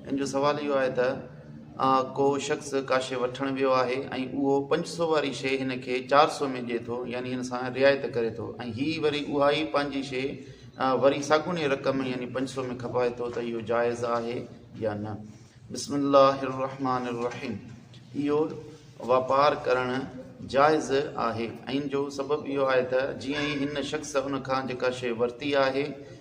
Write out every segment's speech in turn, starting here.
ان جو سوال اهو آهي ته آء ڪو شخص ڪا شيء وٺڻ ويو آهي ۽ اهو پنج سؤ واري شيء هن کي چار سؤ ۾ ڏئي ٿو يعني هن سان رعايت ڪري ٿو ۽ هي وري اها ئي پنهنجي شيء وري ساڳوني رقم يعني پنج سؤ ۾ کپائي ٿو ته اهو جائز آهي يا نه بسم الله الرحمٰن الرحيم اهو واپار ڪرڻ جائز آهي ۽ ان جو سبب اهو آهي ته جيئن ئي هن شخص ان کان جيڪا شيء ورتي آهي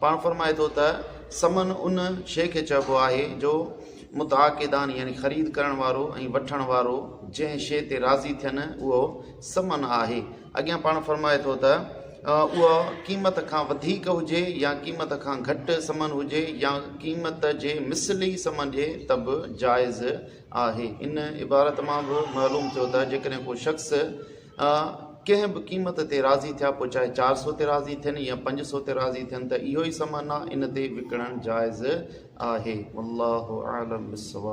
پاڻ فرمائي ٿو ته، ثمن ان شيء کي چئبو آهي جو متعاقدان يعني خريد ڪرڻ وارو ۽ وٺڻ وارو جنهن شيء تي راضي ٿين اهو ثمن آهي. اڳيان پاڻ فرمائي ٿو ته، اها قيمت کان وڌيڪ هجي يا قيمت کان گهٽ ثمن هجي يا قيمت جي مثل ئي ثمن ڏئي ته به جائز آهي. ان عبارت مان به معلوم ٿيو ته جيڪڏهن ڪو شخص، اهي ڪنهن به قيمت تي راضي ٿيا پوء چاهي چار سو تي راضي ٿين يا پنج سو تي راضي ٿين ته اهو ئي سمن آهي ان تي وڪڻڻ جائز آهي والله اعلم بالصواب.